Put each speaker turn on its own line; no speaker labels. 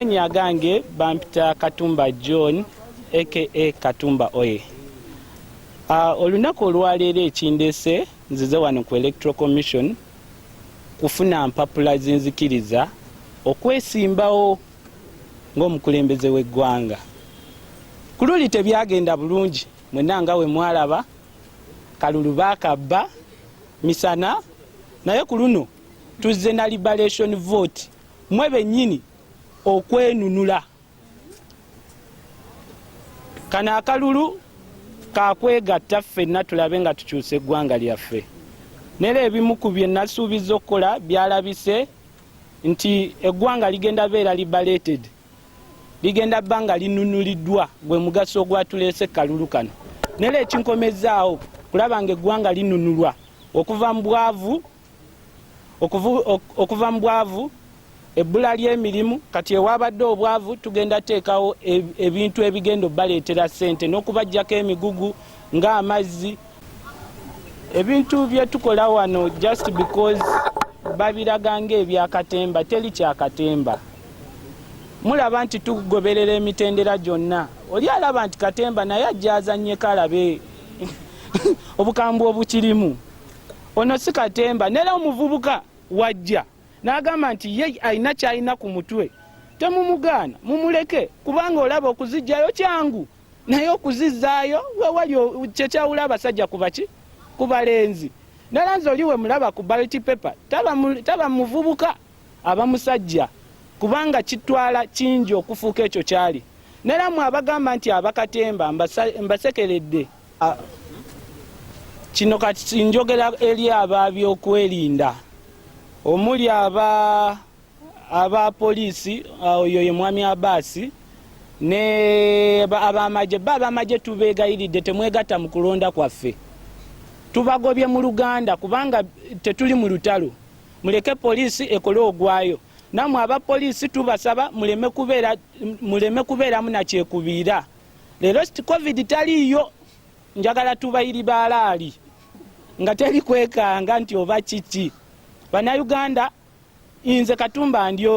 Amannya agange bampita Katumba John aka Katumba Oye. Uh, olunaku olwaleero ekindeese nzize wano ku Electoral Commission kufuna mpapula zinzikiriza okwesimbawo ng'omukulembeze w'eggwanga. Ku luli tebyagenda bulungi mwena nga we mwalaba kalulu bakabba misana naye ku luno tuzze na liberation vote mwe bennyini okwenunula. Kano akalulu kakwegatta ffenna tulabe nga tukyusa eggwanga lyaffe. Nera ebimu ku bye nasuubizza okukola byalabise nti eggwanga ligenda beera libaleted ligenda bba nga linunuliddwa gwe mugaso ogwatuleese kalulu kano nera ekinkomezzaawo kulaba nga eggwanga linunulwa okuva mu bwavu okuva mu bwavu ebbula ly'emirimu kati ewabadde obwavu tugenda teekawo ebintu ebigenda obbaleetera ssente n'okubajjako emigugu ng'amazzi ebintu bye tukola wano just because babiraga ng'ebyakatemba teri kyakatemba mulaba nti tugoberera emitendera gyonna oli alaba nti katemba naye ajja azannyeko alabe obukambwe obukirimu Ono si katemba nera omuvubuka wajja n'agamba nti ye alina kyalina ku mutwe temumugaana mumuleke kubanga olaba okuzijjayo kyangu naye okuzizzaayo wewali kyekyawula abasajja kubaki ku balenzi nera nze oli we mulaba ku balti paper taba muvubuka aba musajja kubanga kitwala kingi okufuuka ekyo kyali nera mwe abagamba nti abakatemba mbasekeredde Ah, kino kati njogera eri aba byokwerinda omuli aba aba poliisi ah, oyo ye mwami abaasi ne abamagye ba abamagye tubeegayiridde temwegatta mu kulonda kwaffe tubagobye mu luganda kubanga tetuli mu lutalo muleke poliisi ekole ogwayo namwe aba poliisi tubasaba muleme kubeeramu nakyekubiira Leero kiti covid taliiyo, njagala tubayiri baalaali nga teri kwekanga nti oba kiki. Bannayuganda, nze Katumba ndi omu.